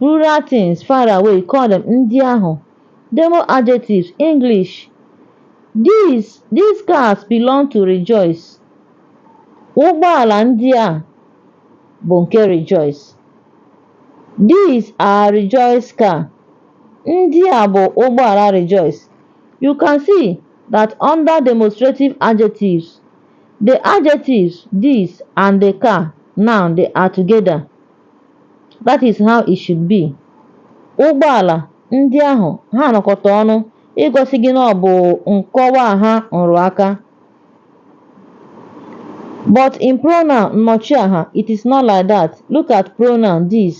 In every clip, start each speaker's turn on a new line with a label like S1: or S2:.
S1: Rural things, far away, call them, ndị ahụ. Demo adjectives, English, These, these cars belong to Rejoice. Ụgbọala ndị a bụ nke Rejoice. These are Rejoice car. Ndị a bụ ụgbọala Rejoice. You can see that under demonstrative adjectives, the adjectives these and the car, noun, they are together. That is how it should be. Ụgbọala ndị ahụ ha nọkọta ọnụ igosi gị na ọ bụ nkọwaaha nrụaka. But in pronoun nnọchiaha, it is not like that. Look at pronoun this.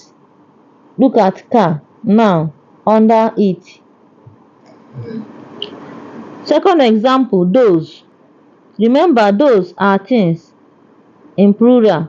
S1: Look at car, noun, under it. Second example, those. Remember, those are things in plural.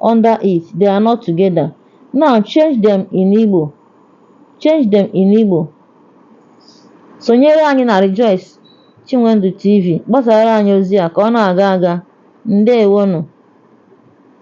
S1: under it, they are not together. Now change them in Igbo. Change them in Igbo. Sonyere anyị na Rejoice Chinwendu TV gbasara anyị ozi a ka ọ na-aga aga. Ndewonụ.